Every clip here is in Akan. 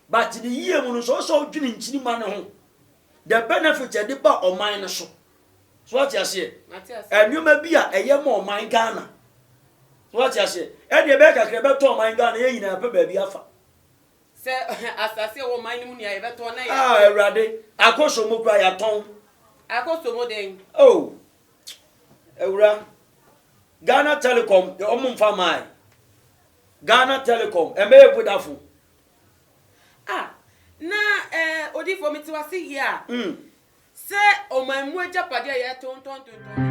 But ne yie mu no sɛ ɔsɛ ɔdwene nkyirima no ho the benefit ɛde ba ɔman no so so wate aseɛ ɛnneɛma bi a ɛyɛ ma ɔman Ghana so wate aseɛ ɛdeɛ ɛbɛyɛ kakra ɛbɛtɔ ɔman Ghana yɛn nyinaa pɛ baabi afa sɛ asase ɛwɔ ɔman no mu nea yɛbɛtɔn na yɛatɔn ah awurade akɔso mu kora yɛatɔn akɔso mu den oh awura Ghana Telecom ɔmo mfa maae Ghana Telecom ɛmɛyɛ Vodafone A, na eh, odiyifoɔ mete wo ase yie a, mm. sɛ ɔman mu agyapadeɛ a yɛtontɔntontɔn.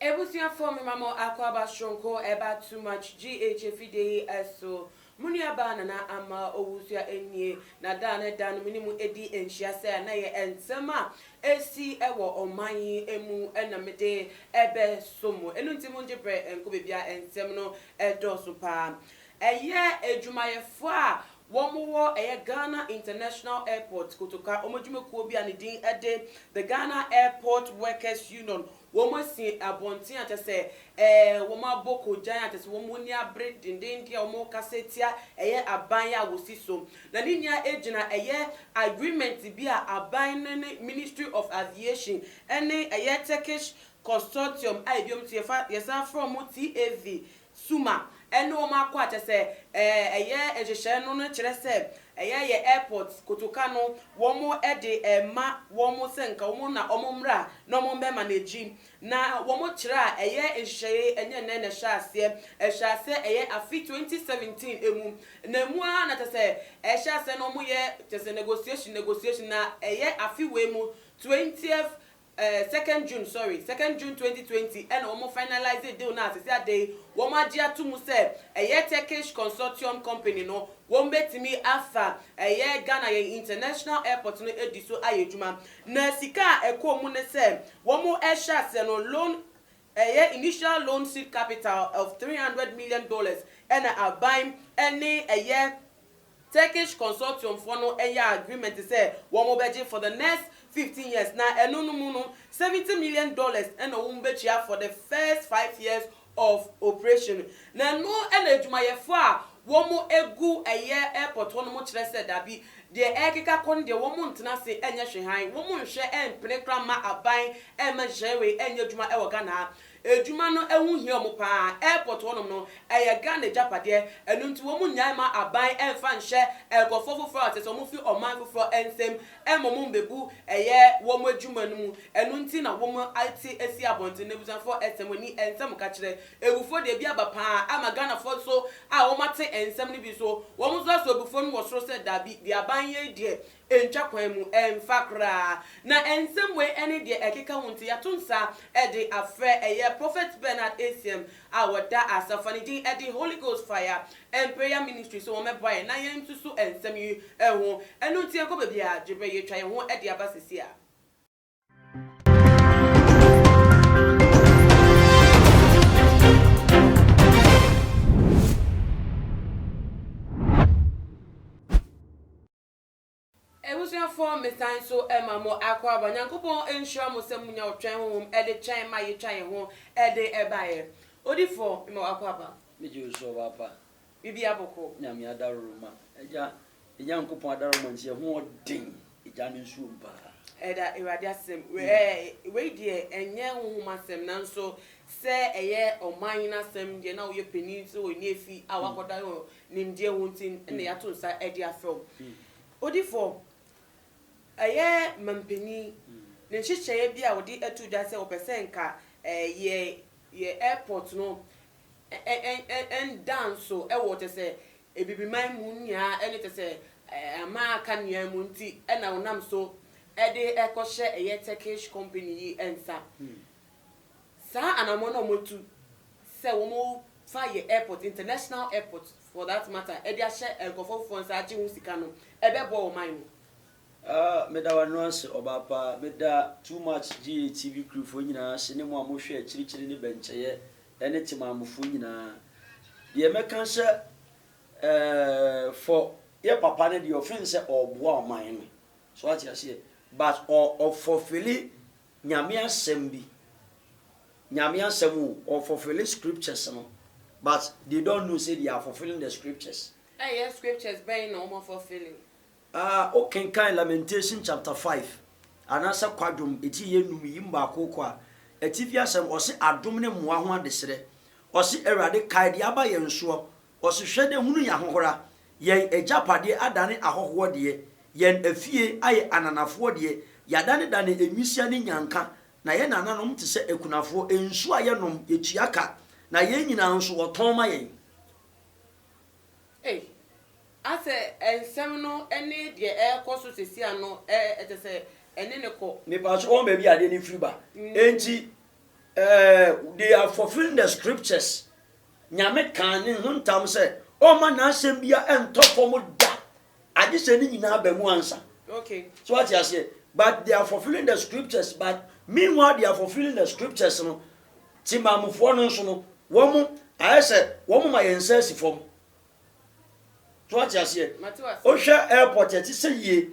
Ebusuafo mema mo akwaaba soronko ɛba too much GH afidie yi ɛso mo nua baa Nana Ama Owusoa ɛnie na daa ne da no mene mo ɛdi nhyia sɛ na yɛ nsɛm a ɛsi ɛwɔ ɔman yi ɛmu ɛna mede ɛbɛ som mo ɛno nti mo ngye brɛ ɛnkɔ bebia ɛnsɛm no ɛdɔɔso paa ɛyɛ adwumayɛfoɔ a Wɔwɔ ɛyɛ Ghana International Airport Kotoka, wɔn adwumakuo bi a ne din de The Ghana Airport Workers Union, wɔn asi abɔnten a kyerɛ sɛ ɛɛ wɔn abɔ kogyan a kyerɛ sɛ wɔn ani abere dendenden a wɔrekasa atia ɛyɛ aban a wɔsi so. Na ne nyinaa ɛgyina ɛyɛ agreement bi a aban no ne Ministry of Aviation ɛne ɛyɛ Turkish Consortium a ɛbi wɔn nso yɛfa yɛsan frɛ wɔn TAV Suma, ɛne wɔn akɔ a kyerɛ sɛ ɛyɛ nhyehyɛe no no kyerɛ sɛ ɛyɛ yɛ airport kotoka no wɔn de rema wɔn sɛ nka wɔn na wɔn mmra na wɔn bɛma no agyi na wɔn kyerɛ a ɛyɛ nhyehyɛe yi ɛnyɛ nnɛ na ɛhyɛ aseɛ ɛhyɛ aseɛ ɛyɛ afe twenty seventeen ɛmu na ɛmu ara na kyerɛ sɛ ɛhyɛ aseɛ na wɔn yɛ kyerɛ sɛ negotiation negotiation na ɛyɛ afe wei mu twentieth Eh second June sorry second June twenty twenty ɛna wɔn finalise deal no a sɛsɛ ada yi wɔn agye ato mu sɛ ɛyɛ Turkish consortium company no wɔn bɛtumi afa ɛyɛ Ghana yɛn international airport no adi so ayɛ adwuma na sika a ɛkɔɔ mu ne sɛ wɔn ɛhyɛ aseɛ no loan Ɛyɛ initial loan seed capital of three hundred million dollars ɛna aban ɛne ɛyɛ Turkish consortium foɔ no ɛyɛ agreement sɛ wɔn bɛgye for the next fifteen years na ɛno no mu no seventy million dollars ɛna wɔn bɛtua for the first five years of operation na ɛno ɛna adwumayɛfoɔ a Wɔn gu ɛyɛ airport hɔ nom kyerɛ sɛ dabi deɛ ɛrekeka kɔ no deɛ wɔn ntena ase nyɛ hwe han wɔn nhwɛ mpene kora mma aban mma nhyehyɛeɛ wei nyɛ adwuma wɔ Ghana ha adwuma no ho hia wɔn paa airport hɔ nom no ɛyɛ Ghana agyapadeɛ ɛno nti wɔn nnyae mma aban mfa nhyɛ nkorɔfoɔ foforɔ a kyerɛsɛ wɔn firi ɔman foforɔ nsam mma wɔn mmɛbu ɛyɛ wɔn adwuma no mu ɛno nti na wɔn ate asi abɔnten no abusuafoɔ ɛsɛ mo ani ɛnsɛ mo ka kyerɛ Awufoɔ deɛ bi aba paa ama Ghanafoɔ nso a wɔn ate nsɛm no bi nso wɔn nso asɔ abufuo no wɔ soro sɛ daabi deɛ aban yei deɛ ɛntwa kwan mu ɛmfa koraa na nsɛm wei ɛne deɛ ɛkeka ho nti yato nsa de afrɛ ɛyɛ Prophet Bernard Asiam a wɔda Asafa ne din ɛde Holy Ghost Fire and Prayer Ministry sɛ wɔn mɛboa yɛn na yɛn nsusu nsɛm yi ho ɛno nti ɛnkɔ baabiara gyebɛ yɛtwa yɛn ho de aba sɛsi a. Ebusuafoɔ mesan nso ma mo akɔ aba Nyankopɔn nhyira mo sɛ munya ɔtwɛn honhom de twɛn ma yetwa yɛn ho de baeɛ. Odifoɔ, mema wakɔ aba. Megye wo so ɔbaapa. bibi aboko. Nyame adaroma, Agya, Nyankopɔn adaroma nti ɛho ɔden, Agya no nsuo mu paa. Ɛda Awurade asɛm, wei deɛ ɛnyɛ honhom asɛm nanso sɛ ɛyɛ ɔman no asɛm deɛ na woyɛ panin sɛ wɔ Nefi a wakɔda yɛ nimdeɛ ho nti na yɛato nsa de afrɛ wo. Odifoɔ, ɛyɛ mampanin ne nhyehyɛeɛ bi a ɔde ato dwa sɛ ɔpɛ sɛ nka yɛ yɛ airport no ɛnda nso wɔ kyɛ sɛ Abibiman mu nyinaa ne kyɛ sɛ aman a aka nyinaa mu nti na ɔnam so de rekɔhyɛ ɛyɛ Turkish company yi nsa. Saa anammɔn a wɔatu sɛ wɔmfa yɛ airport, international airport for that matter, de ahyɛ nkurɔfoɔ foforɔ nsa agye ho sika no, ɛbɛboa ɔman no. Ah meda wo ano ase ɔbaa pa. Meda too much GA TV crew foɔ nyinaa ase ne mo a mohwɛ akyirikyiri ne bɛnkyɛyɛ ɛne Temammo foɔ nyinaa. Deɛ mɛka sɛ eh for yɛ papa no deɛ ɔfeel sɛ ɔɔboa ɔman no so wate aseɛ but ɔ ɔ fulfilli Nyame asɛm bi Nyame asɛm o ɔ fulfilli scriptures no but they don't know sɛ they are fulfilling the scriptures. Ɛyɛ scriptures bɛn na ɔmo fulfilli? A Wokenkan Lamentation chapter five anaasɛ Kwadwom eti yɛ nnum yi mu baako kɔ a, atifi asɛm, ɔse adom ne mmoa ho adesrɛ. Ɔse, Awurade, kae deɛ aba yɛn soɔ. Ɔse, Hwɛ na hunu yɛn ahohora. Yɛn agyapadeɛ adane ahɔhoɔ deɛ, yɛn afie ayɛ ananafoɔ deɛ, yɛadanedane nwisiaa ne nnyanka, na yɛn nananom te sɛ akunafoɔ, nsuo a yɛnom, yɛtua ka, na yɛn nyinaa nso wɔtɔn ma yɛn. Ei, asɛ nsɛm no ne deɛ ɛrekɔ so sɛsi ano ɛɛ kyɛ sɛ ɛne no kɔ. Mepaakye wɔn baabi adeɛ no firi ba enti ɛɛ they are fulfilling the scriptures Nyame kaa ne ho ntam sɛ ɔmma n'asɛm bia ɛntɔ fam da agyesɛ ne nyinaa ba mu ansa Okay. so wate aseɛ but they are fulfilling the scriptures but meanwhile they are fulfilling the scriptures no Temanmufoɔ no nso no, wɔn, ayɛ sɛ wɔn ma yɛn nsa si fam. So wate aseɛ? Wohwɛ airport a, ɛte sɛ yie.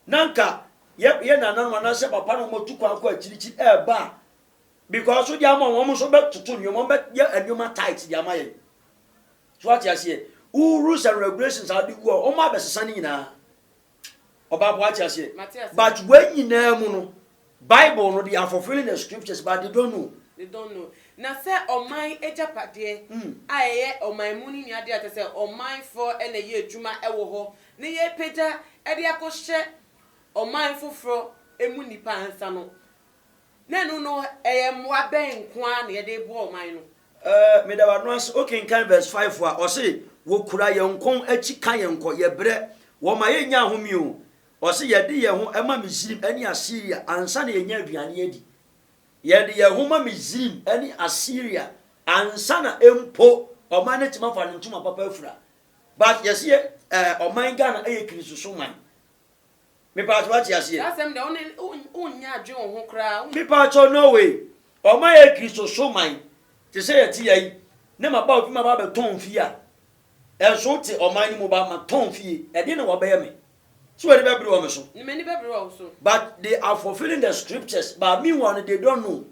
Na anka yɛ, yɛ nananom anaasɛ papa na wɔatu kwan kɔ akyirikyiri ɛreba a, because wode ama wɔn, wɔn nso bɛtoto nneɛma, wɔn bɛyɛ nneɛma tight de ama yɛn. So wate aseɛ? Wo rules and regulations a wode gu hɔ, wɔn abɛsesa ne nyinaa. Ɔbaako wate aseɛ. Mate aseɛ. But wei nyinaa mu no, Bible no, they are fulfilling the scriptures but they don't know. They don't know. Na sɛ ɔman agyapadeɛ a ɛyɛ ɔman mu no nni adeɛ a kyerɛ sɛ ɔmanfoɔ na ɛyɛ adwuma wɔ hɔ na yɛrepagya de akɔhyɛ ɔman foforɔ mu nnipa nsa no, Na ɛno no, ɛyɛ mmoa bɛn nko ara na yɛde reboa ɔman no? Eh, meda w'ano ase. Wokenkan verse five a, ɔse, Wokura yɛn kɔn akyi ka yɛn kɔ, yɛbrɛ, wɔma yennya ahome o. Ɔse, Yɛde yɛn ho ma Misrim ne Asiria ansa na yɛanya aduane adi. Yɛde yɛn ho ma Misrim ne Asiria ansa na mpo ɔman no atumi afa ne ntoma papa afura. But yɛse yɛ eh, ɔman Ghana yɛ Kristosom man. Mepaakyɛ wate aseɛ. Saa asɛm deɛ wone wonyɛ adwene wo ho koraa. Mepaakyɛ no way ɔmo ayɛ kristo so man te sɛ yɛte ya yi ne ma ba obi ma ba bɛ tɔn fie a ɛnso wote ɔman no mu ba ma tɔn fie ɛdeɛ na wabɛyɛ me sɛ w'ani bɛ bere wɔ me so. Ne m'ani bɛ bere wɔ wo so. But they are fulfilling the scriptures but meanwhile no they don't know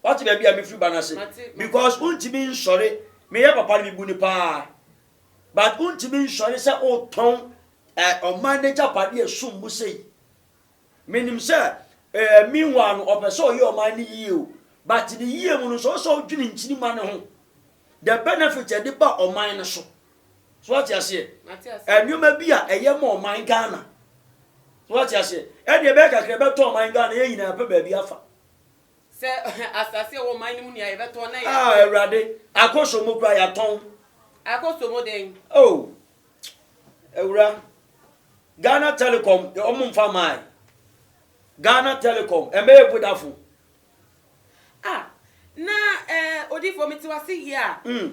wate baabi a mefiri ba no ase because wontumi nsɔre meyɛ papa no mebu no paa But wontumi nsɔre sɛ wotɔn eh, ɔman nagyapade a ɛsom bo sei. Menim sɛ eh, meanwhile no ɔpɛ sɛ ɔyɛ ɔman no yie o, but ne yie mu no nso ɔsɛ ɔdwene nkyirima no ho. The benefit a ɛde ba ɔman no so. So wate aseɛ? Nneɛma bi a ɛyɛ ma ɔman Ghana. So wate aseɛ? Ɛdeɛ ɛbɛyɛ kakra ɛbɛtɔ ɔman Ghana yɛn nyinaa pɛ baabi afa. Sɛ asase a ɛwɔ ɔman no mu nea yɛbɛtɔn na yɛatɔn. Ah, Awurade, akɔsɔ mu kura yɛatɔn. Akɔsɔ mu dɛn? Oh, awura, Ghana Telecom, ɔmo nfa maae. Ghana Telecom, ɛmɛyɛ Vodafone. Ah, na eh, odifoɔ mete wase yɛ a. Mm.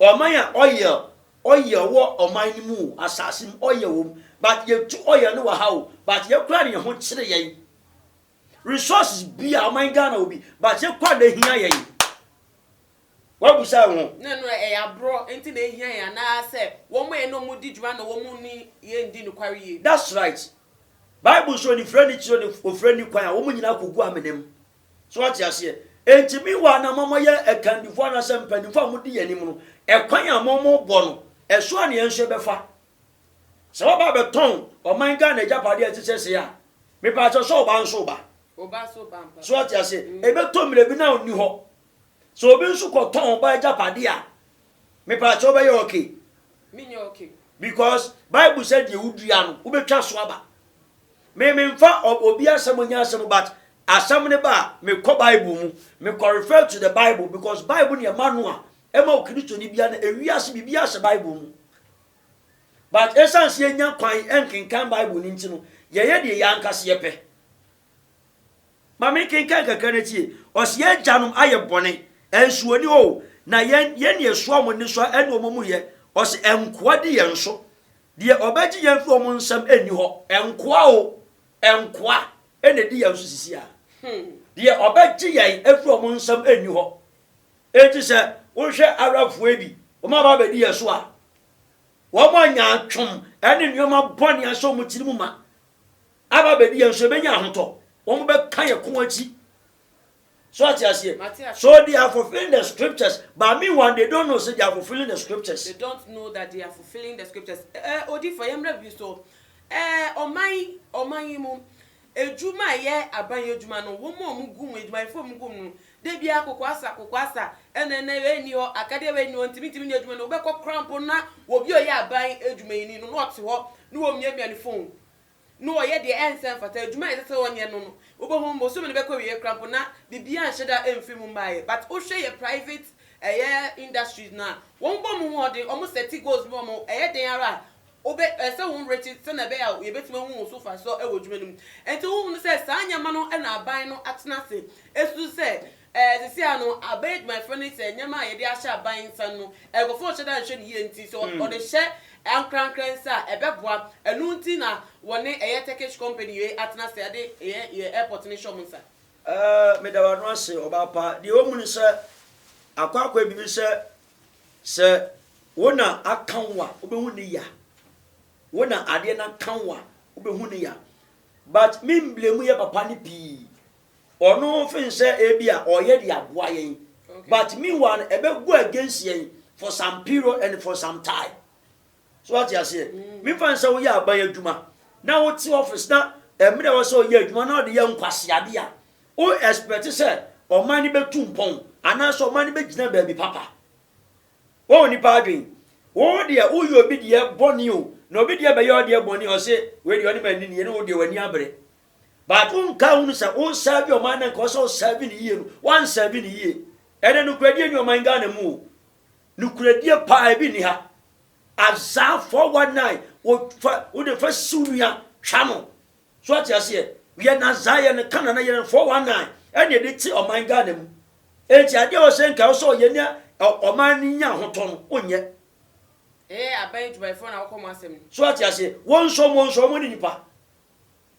Ɔman a ɔyɛw ɔyɛw wɔ ɔman no mu o, asase mu ɔyɛw wɔ mu but yɛtu ɔyɛw no wɔ ha o but yɛn koraa na yɛn ho kyere yɛn. Resources bi a ɔman Ghana wɔ bi but yɛn koraa na ɛhia yɛn. Woabisa wo ho? Na ɛno ɛyɛ aborɔ nti na ɛhia yɛn anaa sɛ wɔn a ɛne wɔn di dwuma na wɔn ne yɛn di nokware yie? That's right. Bible se onifirani kyere onifirani kwan a wɔn nyinaa kɔgu amena mu. So wate aseɛ? Enti me wɔ a na mama yɛ akandifoɔ anaasɛ mpanimfoɔ a modi yɛn anim no, ɛkwan a mobɔ no, ɛso a na yɛn nso yɛbɛfa. Sɛ woaba abɛtɔn ɔman Ghana agyapadeɛ a ɛte sɛ sei a, mepaa sɛ sɛ ɔba nso ba. So wate aseɛ? Mm. Ɛbɛtɔ mmerɛ bi na ɔnni hɔ. Sɛ obi nso kɔtɔn ɔba agyapadeɛ a, mepaa sɛ wobɛyɛ okay. Menyɛ okay. Because Bible sɛ deɛ wodua no, wobɛtwa so aba. Me me nfa obi asɛm ɔnya asɛm but asɛm ne ba a me kɔ bible mu me kɔ refer to the bible because bible ne ɛma no a ɛma okristo ne bia na ewi ase biribi ahyɛ bible mu but ɛsan si enya kwan ɛnkenkan bible ne nti no yɛyɛ deɛ yɛ ankasa yɛpɛ ma me kenkan kakra na tie ɔsi yɛ agyanom ayɛ bɔne ɛnso oni hɔ na yɛn yɛn ne ɛsoa wɔn ne soa ɛne wɔn mu yɛ ɔsi ɛnkoa di yɛn so Deɛ ɔbɛgye yɛn afiri wɔn nsam nni hɔ. Nkoa o, nkoa na ɛdi yɛn so sisi ara. Deɛ ɔbɛgye yɛn afiri wɔn nsam nni hɔ. Enti sɛ wohwɛ Arabfoɔ bi, wɔaba abɛdi yɛn so a, wɔanya atwom ne nneɛma bɔne ahyɛ wɔn tirim ma. Aba abɛdi yɛn so, yɛbɛnya ahotɔ. Wɔbɛka yɛn ko akyi. So wate aseɛ? Mate aseɛ. So they are fulfilling the scriptures but meanwhile they don't know sɛ they are fulfilling the scriptures. They don't know that they are fulfilling the scriptures. Ɛɛ eh, odiifo yɛn mmerɛ bi so ɛɛ eh, ɔman yi ɔman yi mu edwuma a ɛyɛ aban edwuma no wɔn a wɔn gu mu edwumayɛfo a wɔn gu mu no de bi akoko asa akoko asa ɛna ɛna ɛyɛ ni hɔ akadeɛ ɛyɛ ni hɔ ntumi ntumi nyɛ edwuma no wɔbɛkɔ korampo na obi a ɔyɛ aban edwuma yi ni no na ɔte hɔ na wɔn miamia ne phone na ɔyɛ deɛ ɛnsɛ mfata, adwuma a ɛnsɛ sɛ ɔnyɛ no no wobɛhu bosome no bɛkɔ awieɛ koraa mpo na biribiara nhyɛ da mfiri mu mmaeɛ but wohwɛ yɛ private ɛyɛ industries no a wɔn bɔ wɔn ho mmɔden wɔn sɛte goals bi wɔn ɛyɛ den ara a wobɛ ɛsɛ sɛ wɔn werɛ kye sɛnea ɛbɛyɛ a yɛbɛtumi ahu wɔn so mfasoɔ wɔ adwuma no mu nti wohunu sɛ saa nneɛma no na aban no atena ase ɛsu sɛ Ɛɛ, sesei ara no, aban adwumayɛfoɔ no sɛ nneɛma a yɛde ahyɛ aban nsa no, nkurɔfoɔ nhyɛ da nhwɛ no yie nti, sɛ wɔde hyɛ ankorankorɛ nsa a, ɛbɛboa. Ɛno nti na wɔne ɛyɛ Turkish company wei atena ase de yɛ yɛn airport no hyɛ wɔn nsa. Ɛɛ, meda w'ano ase, ɔbaa pa. Deɛ ɛwɔ mu ne sɛ, akwaakwaɛ biribi sɛ, sɛ wo na aka wo a, wobɛhu ne ya. Wo na adeɛ no aka wo a, wobɛhu ne ya. But, memblame yɛ papa no pii. Ɔno feel sɛ ebia ɔyɛ de aboa yɛn but meanwhile no ɛbɛ go against yɛn for some period and for some time. So wate aseɛ? Memfa no sɛ woyɛ aban adwuma na wote office na mmerɛ ɛwɔ sɛ ɔyɛ adwuma na ɔde yɛ nkwaseade a wo expect sɛ ɔman no bɛtu mpɔn anaasɛ ɔman no bɛgyina baabi papa. Wɔn nipa adwen wo deɛ woyɛ obi deɛ bɔne o na obi deɛ bɛyɛ ɔdeɛ bɔne ɔse wei deɛ ɔne ma ani nie ne wo deɛ w'ani abere Baako nka ho no sɛ wosɛɛve ɔman na nka ɔsɛ ɔsɛɛve no yie no wansɛɛve no yie. Ɛnɛ nokoradie ni ɔman Ghana mu o. Nokoradie paa ebi ni ha. Azaa 419 wode fa si wo nua twa no. So ate aseɛ? Yɛn azaa yɛn no ka nana yɛn no 419 ɛne ɛde te ɔman Ghana mu. Enti adeɛ wɔ sɛ nka ɔsɛ ɔyɛ ne ɔman no nya ahotɔ no onyɛ. Ɛyɛ aban adwumayɛfoɔ na wɔkɔ mo asɛm no. So ate aseɛ? Wɔnsɔ mo nsɔ mo ne nipa.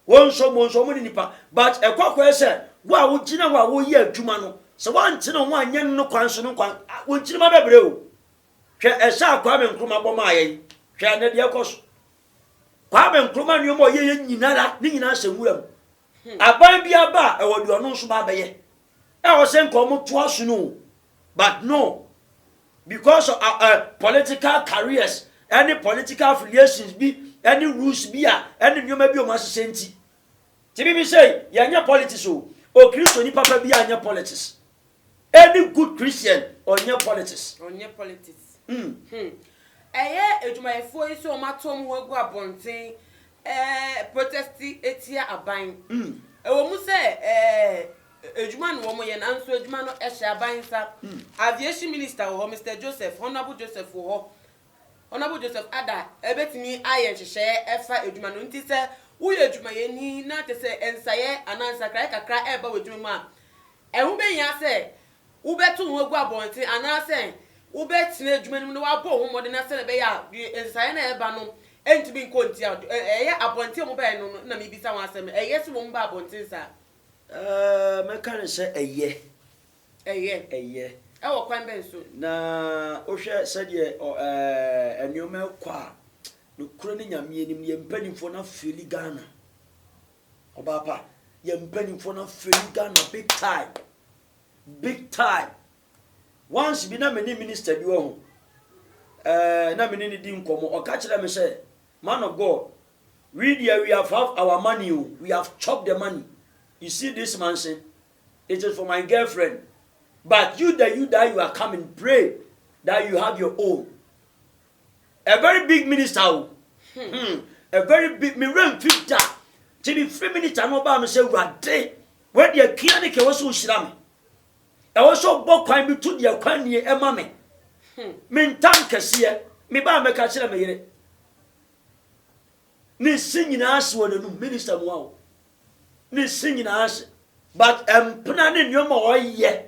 Wɔn nso wɔn nso wɔn ne nipa but ɛkɔ akɔyɛ sɛ wo a wogyina hɔ a woyɛ adwuma no sɛ wɔantene ho anyɛ no kwan so no kwan wɔn nkyirima bɛbrɛ o hwɛ ɛsɛ a Kwame Nkrumah bɔ maa yɛn hwɛ ɛnɛ deɛ ɛkɔ so Kwame Nkrumah nneɛma ɔyɛ yɛ nyinara ne nyinaa sɛ nwura mu hmm. aban bi aba a ɛwɔ deɛ ɔno nso ba abɛyɛ ɛwɔ sɛ nka wɔn to aso no o But no, because of uh, uh, political careers, any political affiliations bi, any rules bi a, any nneɛma bi a wɔn ahyehyɛ nti. Ti bi bi sɛ yɛnyɛ politics o, o Kristoni papa bi a nyɛ politics. Any good Christian ɔnyɛ politics. Ɔnyɛ politics. Mm. Hmm. Ɛyɛ adwumayɛfoɔ yi sɛ wɔn ato wɔn ho agu abɔnten ɛɛ protest etia aban. Mm. Ɛwɔ mu sɛ ɛɛ. Adwuma na wɔyɛ nanso adwuma no hyɛ aban nsa. Aviation Minister wɔ hɔ, Mister Joseph, Honourable Joseph wɔ hɔ, Honourable Joseph Adah bɛtumi ayɛ nhyehyɛeɛ ɛfa adwuma no nti sɛ woyɛ adwumayɛni na kyerɛ sɛ nsaeɛ anaa nsakraeɛ kakra ɛreba w'adwuma mu a, ɛho bɛhia sɛ wobɛto wo ho agu abɔnten anaasɛ wobɛtena adwuma no mu na woabɔ wo ho mmɔden na sɛdeɛ ɛbɛyɛ a nsaeɛ no a ɛreba no ntumi nkɔ ntia wo. Ɛyɛ abɔnten a wɔbaeɛ no na mebisa ho asɛm, ɛyɛ sɛ wɔn baa abɔnten saa? Ɛɛɛ, mɛka no sɛ ɛyɛ. Ɛyɛ. Ɛyɛ. Ɛwɔ kwan bɛn so? Na wohwɛ sɛdeɛ ɔ ɛɛɛ nneɛma rekɔ a, nokorɛ no Nyame anim no, yɛn mpanimfoɔ no afeeli Ghana. Ɔbaa pa, yɛn mpanimfoɔ no afeeli Ghana big time. Big time. Once bi na me ne minister bi wɔ ho, ɛɛɛ na me ne no di nkɔmmɔ, ɔka kyerɛɛ me sɛ, Man of God, We deɛ we have have our money o we have chop the money you see this mansion it is for my girlfriend but you that you that you are coming pray that you have your own a very big minister o hmm. hmm. a very big me rem fi da ti mi firi minister no ɔbaa mi sɛ wurade wei deɛ kia ne kɛ wɔsɔ ohyira mi ɛwɔ sɛ ɔbɔ kwan bi to deɛ kwan nie ɛma mi hmm. me ntam kɛseɛ me baa mɛka kyerɛ me yere. Ne se nyinaa hye wɔ n'anum, minister mua o. Ne se nyinaa hye. But mpena ne nneɛma a ɔyɛ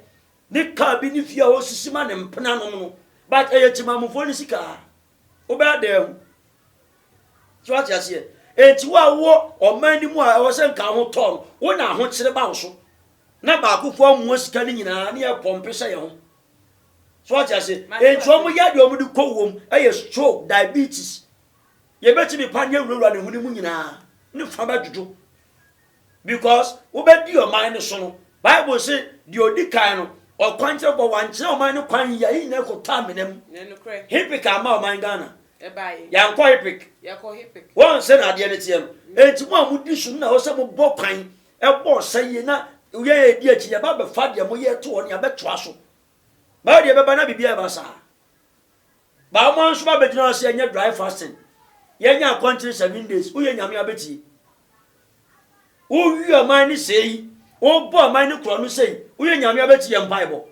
ne kaa bi ne fie a ɔsisi ma ne mpenanom no, but ɛyɛ temamufoɔ ne sika a. Wobɛyɛ dɛn ahu? So ate aseɛ? Enti wo a wowɔ ɔman no mu a ɛwɔ sɛ nka ho tɔɔ no, wo na ahokyere ba wo so na baakofoɔ amoa sika no nyinaa ne yɛpɔmpe hyɛ yɛn ho. so ɔte ase nti wɔn yɛ deɛ wɔn de kɔ wɔm ɛyɛ stroke diabetes yɛbɛtumi pa ne awurawura ne ho ne mu nyinaa ne fa bɛdwodwo because wobɛdi ɔman no so no bible se deɛ ɔdi kan no ɔkwan kyerɛ bɔ wankyerɛ ɔman no kwan yia yɛ nyinaa kɔtaa mena mu hipik ama ɔman ghana yɛankɔ hipik wɔn sɛ na adeɛ no teɛ no ɛnti mu a modi so no na wɔ sɛ mobɔ kwan Ɛbɔ ɔsa yie na yɛn a yɛdi akyi no, yɛba bɛfa deɛ moyɛ to hɔ no, yɛabɛtoa so. Baa deɛ ɛbɛba na biribiara ɛba saa. Baa mo nso ba bɛgyina hɔ sɛ yɛnyɛ dry fasting. Yɛnyɛ akɔnkyere seven days. Woyɛ nyame abɛtie. Wowie ɔman no sei. Wobɔ ɔman no korɔ no sei. Woyɛ nyame abɛtie yɛ mpaebɔ.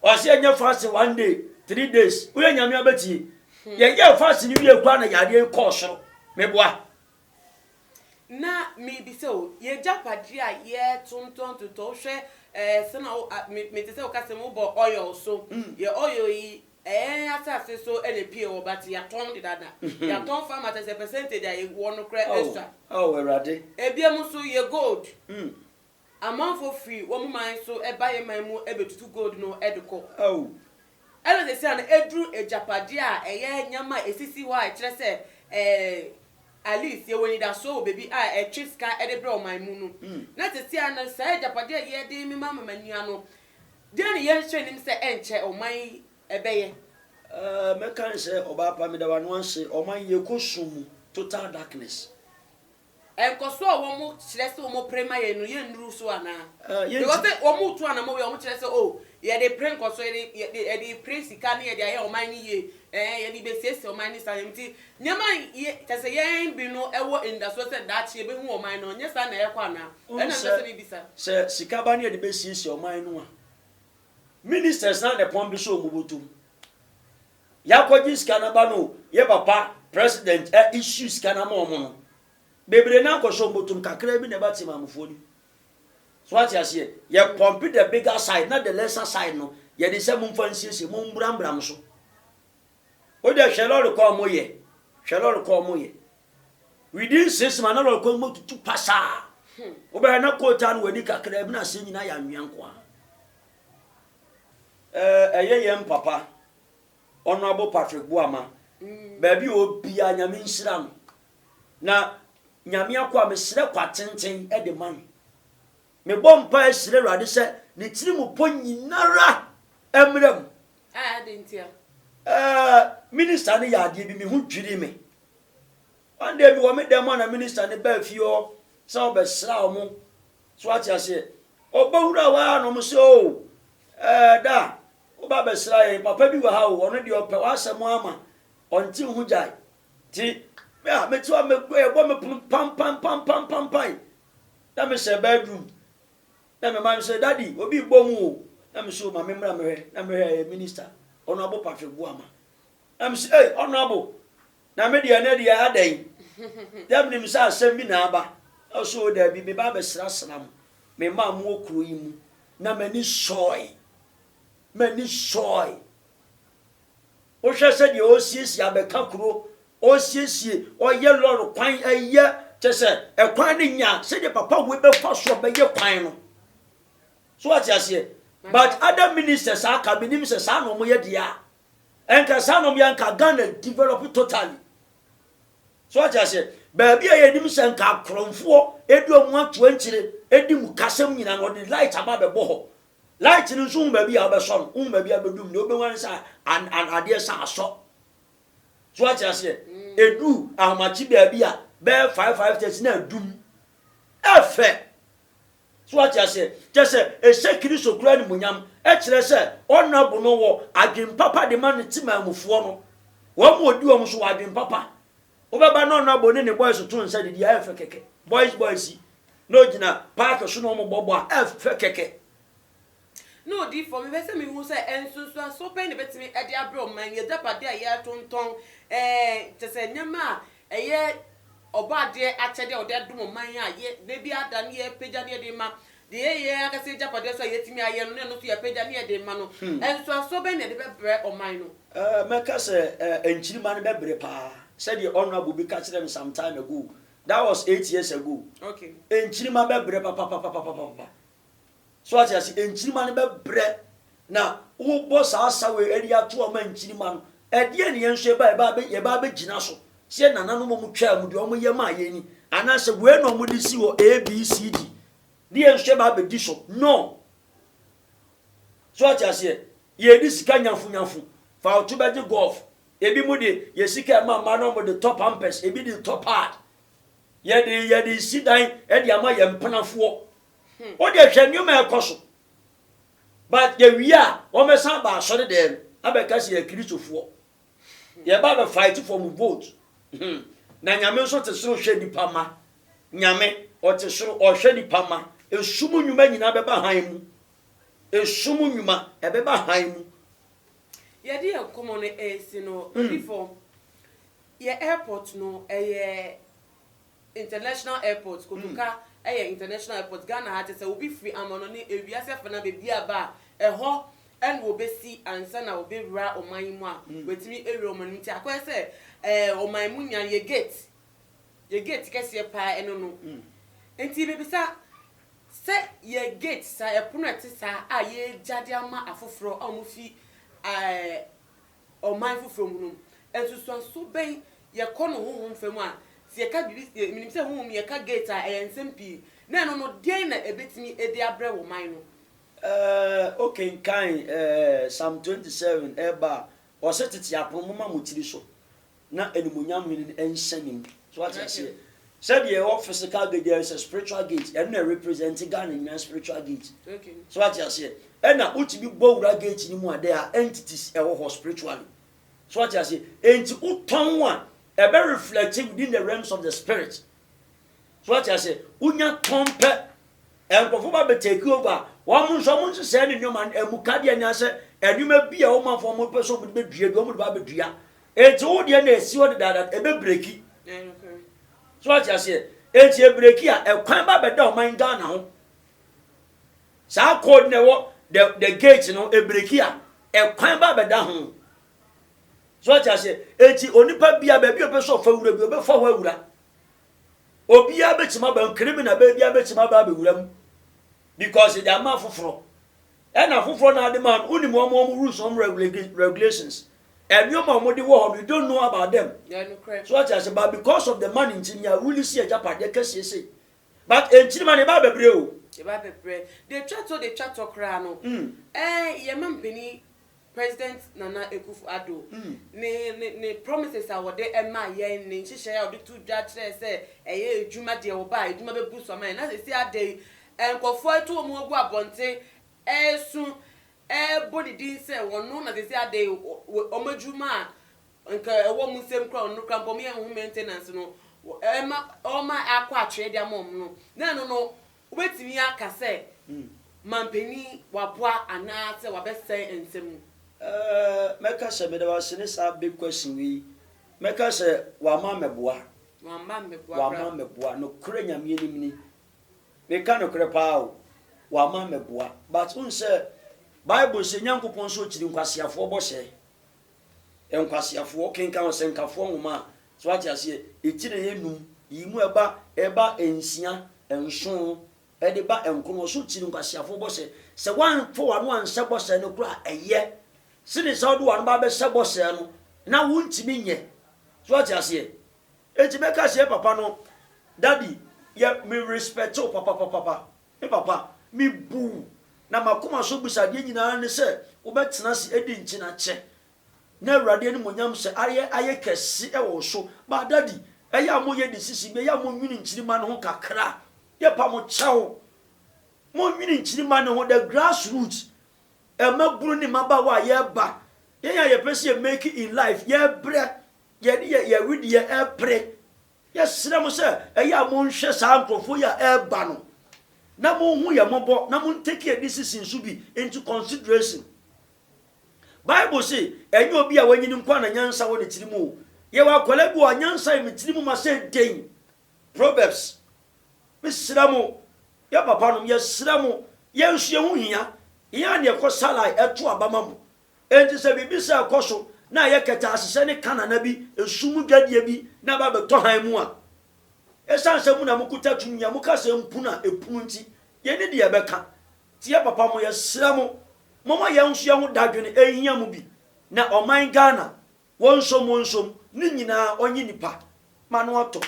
Ɔsɛ yɛnyɛ fasting one day, three days. Woyɛ nyame abɛtie. Hmm. Yɛyɛ fasting no wie koraa na yadeɛ kɔɔ soro. Meboa. Na mebisa o, y'agyapadeɛ a yɛtontɔntontɔn, wohwɛ ɛɛ sɛ na wo a me mete sɛ woka sɛ mobɔ oil so, yɛ oil yi ɛɛn asase so ɛna epie wɔ but yɛatɔn dedaada, yɛatɔn farmers ɛsɛ percentage a yɛwɔ no koraa ɛsua, Ao, Ao Awurade. ebiam nso yɛ gold. Amanfoɔ firi wɔn man so ba yɛn man mu bɛtutu gold no de kɔ. Ao! Ɛna seesei a na aduru agyapadeɛ a ɛyɛ nneɛma a ɛsisi hɔ a ɛkyerɛ sɛ ɛɛ at least yɛwɔ anidasoɔ wɔ baabi a ɛtwe sika de brɛ ɔman mu no, na seesei a na saa agyapadeɛ a yɛde remema amema nua no, deɛn na yɛnhyɛ nnim sɛ ɛnkyɛ ɔman yi bɛyɛ? Ɛɛ, mɛka ne sɛ, Ɔbaa pa, meda w'ano ase. Ɔman yi, yɛkɔ sum mu, total darkness. Nkɔso a wɔkyerɛ sɛ wɔpere ma yɛn no, yennuru so anaa? Because sɛ wɔretu anammɔn wei a, wɔkyerɛ sɛ, oh, yɛde repere nkɔso, yɛde yɛde repere sika na yɛde ayɛ ɔman no yie, ɛɛ, yɛde rebesiesie ɔman ne saa nneɛma. Nti nneɛma a yɛ kyerɛ sɛ yɛn bi no wɔ anidasoɔ sɛ daakye yɛbɛhu wɔ ɔman no, ɛnyɛ saa na ɛrekɔ anaa? Ɛno na mepɛ sɛ mebisa. Sɛ sika ba na yɛde bɛsiesie ɔman no a, ministers no ara na ɛpɔn de hyɛ wɔn bɔtɔ mu. Y'akɔgye sika no aba no o, yɛ papa president a issue sika no ama ɔmo no, bebree no akɔ so, mbotom kakraa bi na ɛba tsemanmufoɔ no mu. So w'ate aseɛ? Yɛ pump the bigger side na the lesser side no yɛde sɛ momfa nsiesie, mo mbra mbra mo so. Wo deɛ hwɛ lɔre kɔ a ɔmo yɛ, hwɛ lɔre kɔ a ɔmo yɛ. Within six months na lɔre kɔ no mu atutu pasaa. Wobɛhwɛ na coal taa no w'ani kakraa bi na aseɛ nyinaa yɛ anwea nko ara. Ɛyɛ yɛn papa Honourable Patrick Boama baabi a ɔbia Nyame nhyira no na Nyame akɔ a mesrɛ kwa tenten de ma no mebɔ mpa ɛsrɛ Awurade sɛ ne tiri mu pɔ nyinara mmra mu ah, Minister no yɛ adeɛ bi me ho dwiri me One day mewɔ me dan mu a na minister no baa fie hɔ sɛ ɔbɛsra ɔmo. So wate aseɛ? Ɔba wura hɔ ara na ɔmo sɛ oh eh da woba bɛsra yɛn papa bi wɔ ha o ɔno deɛ ɔpɛ w'asɛm ara ma ɔnte wo ho gyae te me a mete hɔ a mɛgu ɛbɔ me pono pampan pampan pampan na mesɛ bedroom na me ma no sɛ daddy obi bɔ mu o na me so ma me mmra mehwɛ na mehwɛ ɛyɛ minister ɔno abo patrick boama na me sɛ hey ɔno abo Na me deɛ ɛnnɛ deɛ adɛn? Dɛ menim sɛ asɛm bi na aba. Ɔse o daabi, meba abɛsrasra mo, me mma a mowɔ kuro yi mu. Na m'ani sɔɔe. M'ani sɔɔe. Wohwɛ sɛdeɛ ɔresiesie abɛka kuro, ɔresiesie, ɔreyɛ lɔre kwan, ɛyɛ, kyɛ sɛ ɛkwan no nya sɛdeɛ papa wei bɛfa so bɛyɛ kwan no. So wate aseɛ? But other ministers a aka, menim sɛ saa na wɔyɛ deɛ a, Ɛnka saa nom yɛ nka Ghana develop totally. So ate aseɛ baabi a yɛnim sɛ nka akorɔmfoɔ ɛdu ɔmo ato ankyire ɛdi mu kasɛm nyina no ɔde light aba bɛbɔ hɔ. Light no nso hu baabi a wobɛsɔ no, wohu baabi a bɛdum no, wobɛhu ane sɛ adeɛ sɛ asɔ. So ate aseɛ ɛdu ahomakye baabi a bɛyɛ 5 5 tɛsi na adum. Ɛfɛ So wate aseɛ? Kyɛ sɛ ɛhyɛ Kristo kura animuonyam, ɛkyerɛ sɛ ɔna bo no wɔ adwene papa de ma ne temanmufoɔ no. Wɔn a ɔdi wɔn so wɔ adwene papa. Wobɛba na ɔna bo ne ne boys to nsa didi a ɛfɛ kɛkɛ. Boys boys yi na ɔgyina paake so na wɔbɔ bɔ a ɛfɛ kɛkɛ. Ne odiyifoɔ, mepɛ sɛ mehu sɛ nsunsuansoɔ bɛn na ɛbɛtumi de abrɛ wɔn ma y'agyapadeɛ a yɛretontɔn, ɛɛ, kyerɛ sɛ nneɛma a ɛyɛ Ɔbɔadeɛ akyɛdeɛ a ɔde adom ɔman yi a yɛ, da biara da no yɛrepagya na yɛde rema, deɛ ɛyɛ yɛn ankasa y'agyapadeɛ nso a yɛatumi ayɛ no na ɛno nso yɛapagya na yɛde rema no, nsunsuansoɔ bɛn na ɛde bɛbrɛ ɔman no? Ɛɛ, mɛka sɛ, ɛɛ, nkyirimma no bɛbere pa ara, sɛdeɛ Honourable bi ka kyerɛɛ me some time ago, that was eight years ago, nkyirimma bɛbere papapapapapapa, So wate ase? Nkyirimma no bɛbrɛ, na wobɔ saa asaw yi de ato hɔ ma nkyirimma no. Ɛdeɛn na yɛn nso yɛba yɛba abɛ yɛba abɛgyina so sɛ nananom a wɔtwaa mu deɛ wɔyɛ maa yɛn ni anaasɛ wei na wɔde si hɔ abcd de yɛn nso yɛba abɛdi so no so ate aseɛ yɛdi sika nyafunyafu fa woto bɛgye golf ebi mu de yɛ sika ɛma mma no wɔde tɔ pampers ebi de tɔ pad Yɛde yɛde resi dan de ama yɛn mpenafoɔ. Hmm. Wo deɛ hwɛ nneɛma ɛkɔ so. But yɛwie a, wɔbɛsan aba asɔre dɛm no abɛka sɛ yɛ Kristofoɔ. Hmm. Yɛba abɛfight for mu vote. Hmm. Na Nyame nso te soro hwɛ nipa ma. Nyame ɔte soro ɔhwɛ nipa ma. Esum nnwuma nyinaa bɛba han mu. Esum nnwuma ɛbɛba han mu. Yɛde yɛn nkɔmmɔ no resi no, Odifo, yɛn airport no, ɛyɛ international airport, Kotoka yɛ international airport. Ghana ha te sɛ obi firi amanɔne, ewiase afanan baabi a ba a, ɛhɔ na wɔbɛsi ansa na wɔbɛwura ɔman yi mu a, wɔatumi awura ɔman yi mu. Nti akɔyɛ sɛ ɛɛ ɔman mu nyan yɛ gate Yɛ gate kɛseɛ paa ɛno no nti mebisa sɛ yɛ gate saa yɛ pono a ɛte saa a yɛgya de ama afoforɔ a wɔfi ɛɛ ɔman foforɔ mu no nsusuanso bɛn yɛkɔ no honhom fa mu a sɛ yɛka biribi menim sɛ honhom yɛka gate a ɛyɛ nsɛm pii na ɛno no deɛn na ɛbɛtumi ɛde abrɛ wɔ man no. Ɛɛ wokenkan ɛɛ psalm 27 ɛɛba a ɔse tete apono moma mo tiri so na animuonyam hene no nhyɛ ne mu so wate aseɛ sɛdeɛ ɛwɔ physical gate there is a spiritual gate ɛno na represent Ghana nyinaa spiritual gate so wate aseɛ ɛna wotumi bɔ wura gate no mu a there are entities ɛwɔ hɔ spiritually so wate aseɛ enti wotɔn a ɛbɛ reflect within the realms of the spirit So wate ase? Wonya tɔn pɛ. Nkurɔfo ba bɛ take over a, wɔn nso wɔn nhyehyɛe ne nneɛma no, ɛmu ka deɛ nya sɛ nneɛma bi a wɔn manfoɔ wɔn pɛ sɛ wɔn de bɛdua bi, wɔn de ba abɛdua. Enti wo deɛ na ɛsi hɔ dedaada, ɛbɛbreki. So wate aseɛ? Enti ɛbreki a, ɛkwan ba bɛda ɔman Ghana ho. Saa code na ɛwɔ the, the gate no, ɛbreki a, ɛkwan ba bɛda ho. So wate aseɛ? Enti onipa bia baabi a ɔpɛ sɛ ɔfa wura bi, ɔbɛfa hɔ awura. Obiara bɛtumi aba mu, criminal bɛɛ biara bɛtumi aba abɛwura mu because yɛde ama afoforɔ. Ɛna afoforɔ na ade ma no, wonim wɔn wɔn rules wɔn regulations. Ɛnneɛma a wɔde wɔ hɔ no, you don't know about them. So ɔte ase, but because of the money nti, nea wuli si agyapadeɛ kɛseɛ sei. But enkyirima no, ɛba abɛbrɛ o. Ɛba abɛbrɛ. Deɛ ɛtwa toɔ, deɛ ɛtwa toɔ koraa no, mm. ɛɛ yɛma mpanin President Nana Akuffo Addo ne ne ne promises a ɔde maa yɛn, ne nhyehyɛe a ɔde too dwa kyerɛɛ sɛ ɛyɛ adwuma deɛ ɔba a adwuma bɛbu so ama yɛn. Na seesei ada yi, nkurɔfoɔ atu wɔn ho agu abɔnten resu, rebɔ ne din sɛ ɔno na seesei ada yi wɔn adwuma a anka ɛwɔ wɔn nsam koraa, ɔno koraa mpo wɔyɛ ho maintenance no, ɔma ɔrema akɔ atwee de ama wɔn no. Na ɛno no, Wobɛtumi aka sɛ mampanin waboa anaa sɛ wabɛsɛe nsɛm mu? Ɛɛ, mɛka sɛ meda wo ase ne saa big question wei. Mɛka sɛ wamma mɛboa. Wamma mɛboa koraa. Wamma mɛboa. Nokorɛ Nyame anim ni. Meka nokorɛ paa o. Wamma mɛboa. But wohu sɛ Bible se Nyankopɔn nso ɔkyiri nkwaseafoɔ bɔhyɛ. Nkwaseafoɔ kenkan ɔsɛnkafoɔ nwoma a, so wate aseɛ, ɛkyirɛɛ nnum, yi mu ɛba, ɛba nsia, nson, ɛde ba nkono, so kyiri nkwaseafoɔ bɔsɛ. Sɛ woanfa w'ano anhyɛ bɔsɛ no koraa a, ɛyɛ sene sɛ wode w'ano ba abɛhyɛ bɔsɛ no na wontumi nyɛ. So wate aseɛ? Enti mɛka sɛ, Papa no, Daddy, yɛ, me respect wo papapapapa. Me papa, mibu wo, na m'akoma so abisadeɛ nyinaa ne sɛ wobɛtena ase adi nkyena kyɛ, na Awurade animuonyam sɛ ayɛ ayɛ kɛse wɔ wo so. But daddy, ɛyɛ a moyɛ decision bi, ɛyɛ a monwene nkyirimma no ho kakra. Yɛpa mo kyɛw, monwene nkyirimma no ho, the grass root, mmabunu ne mmabaawa a yɛreba, yɛn a yɛpɛ sɛ yɛ make in life, yɛrebrɛ, yɛde yɛ wedeɛ repere, Yɛsrɛ mo sɛ ɛyɛ a monhwɛ saa nkurɔfoɔ yi a ɛreba no na monhu yɛn mmɔbɔ na mo ntake a decision so bi into consideration. Bible se ɛnyɛ obi a wanyini nkoa na nyansa wɔ ne tiri mu o. Yɛwɔ akwadaa bi wɔ hɔ a nyansa yɛ me tiri mu ma sɛ den. Proverbs. Mesrɛ mo, yɛn papanom, yɛsrɛ mo, yɛn nso yɛn ho hia. Yɛn a na yɛkɔ salai ɛto aba ma mo Enti sɛ biribi sɛɛ kɔ so na ɛyɛ kɛtɛasesɛ ne kanana bi, nsu mu dwadie bi na ɛba bɛtɔ hann mu a, ɛsiane sɛ mo na mokuta tumi a moka sɛ mpunu a ɛpunu nti, yei ne deɛ ɛbɛka. Tie papa mo, yɛsrɛ mo, momma yɛn nso yɛn ho dadwene, ɛhia mo bi. Na ɔman Ghana, Wonsom wonsom ne nyinaa ɔnye nipa ma no ɔtɔ.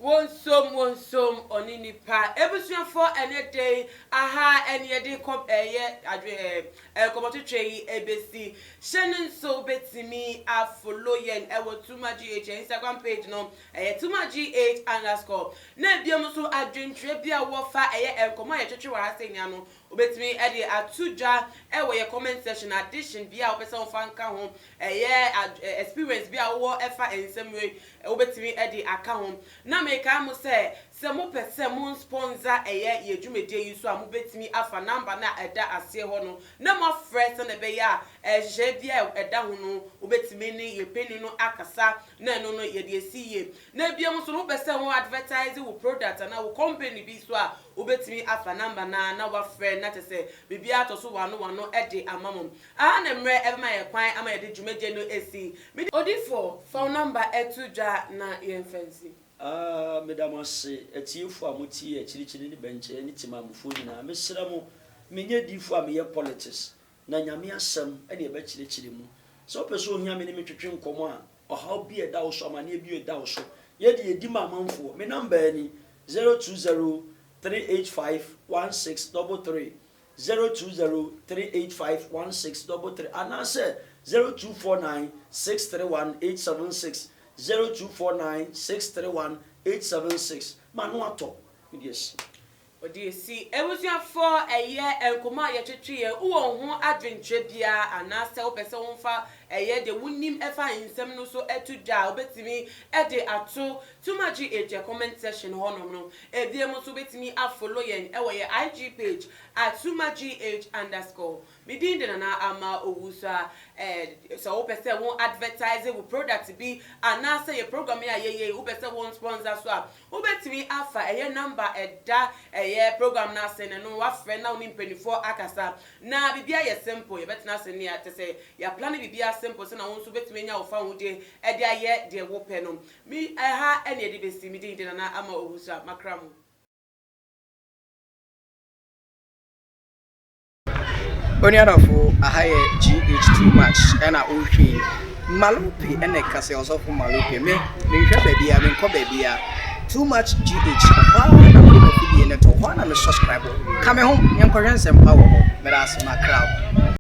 Wonsom wonsom ɔne nipa. Abusuafoɔ ɛnɛ da yi aha ɛne yɛde kɔ ɛyɛ adwe ɛɛ nkɔmɔtwetwe yi ɛbɛsi. Hyɛ no nso wobɛtumi a follow yɛn ɛwɔ Tuma GH ɛyɛ Instagram page no ɛyɛ Tuma GH underscore na ɛbiom nso adwentwerɛ bi a wowɔ fa ɛyɛ nkɔmɔ a yɛtwetwe wɔ ha sɛ nnɛ ano Wobɛtumi de ato dwa wɔ yɛn comment section addition biara a wopɛ sɛ wofa nka ho, ɛyɛ experience bi a wowɔ ɛfa nsɛm wei wobɛtumi de aka ho. Na mekae mo sɛ, sɛ mopɛ sɛ mo nspɔnsa ɛyɛ yɛn dwumadie yi so a mobɛtumi afa number no a ɛda aseɛ hɔ no na moafrɛ sɛdeɛ ɛbɛyɛ a nhyehyɛeɛ biara a ɛda ho no wobɛtumi ne yɛn panin no akasa na ɛno no yɛde asi yie. Na bio nso no wopɛ sɛ wo advertise wo product anaa wo company bi nso a Wobɛtumi afa number no ara na woafrɛ na kyerɛ sɛ biribiara tɔ so wano wano de ama mo. Aha ne mmerɛ ɛbɛma yɛn kwan ama yɛde dwumadie no asi. Mede. Odiyifoɔ, fa wo number to dwa na yɛmfa nsi. Aah meda mo ase atiefo a mo tie akyirikyiri ne bɛnkyɛɛ ne Timamufoɔ nyinaa mesrɛ mo menyɛ diifo a meyɛ politics Na Nyame asɛm na yɛbɛkyerɛkyerɛ mu. Sɛ wopɛ sɛ ohia me ne me twetwe nkɔmmɔ a, ɔhaw bi a ɛda wo so, amaneɛ bi a ɛda wo so, yɛ deɛ ɛdi ma amanfoɔ. Me numbaa ni, 0203851633, 0203851633, anaasɛ 024963186, 024963186. M'ano atɔ, mede asi. Ɔde asi abusuafo a ɛyɛ nkɔmmɔ a yɛtwetwee, wowɔ wo ho adwenkyerɛ biara anaasɛ wopɛ sɛ womfa ɛyɛ deɛ wonim ɛfa nsɛm no so to dwa a, wobɛtumi de ato Tumagye Atua comment section hɔnom no. Ebiem nso wobɛtumi afollow yɛn wɔ yɛn IG page at Tumagye H underscore. Me din de Nana Ama Owusu a eh, sɛ wopɛ sɛ wo advertise wo product bi anaasɛ yɛ program yi a yɛyɛ yi wopɛ sɛ wo nsponsor so a, wobɛtumi afa ɛyɛ number a ɛda ɛyɛ program no ase no no wafrɛ na wo ne mpaninfoɔ akasa na biribiara yɛ simple, yɛbɛtena ase ne kyɛ sɛ yɛaplane biribiara simple sɛdeɛ wo nso wobɛtumi anya wo fawodeɛ de ayɛ deɛ wopɛ no. Me, ɛha na yɛde bɛsi. Me din de Nana Ama Owusu a makra mo. Onuadɔfo, aha yɛ GH too much ɛna wohwɛ yi. Malope ɛna ɛka sɛ ɔsɔfo Malope me menhwɛ baabia menkɔ baabia too much GH ɔhɔ ara na mede m'afidie no to hɔ ara na me subscribe ka me ho yɛnkɔhwɛ nsɛmpa wɔ hɔ meda ase makra wo.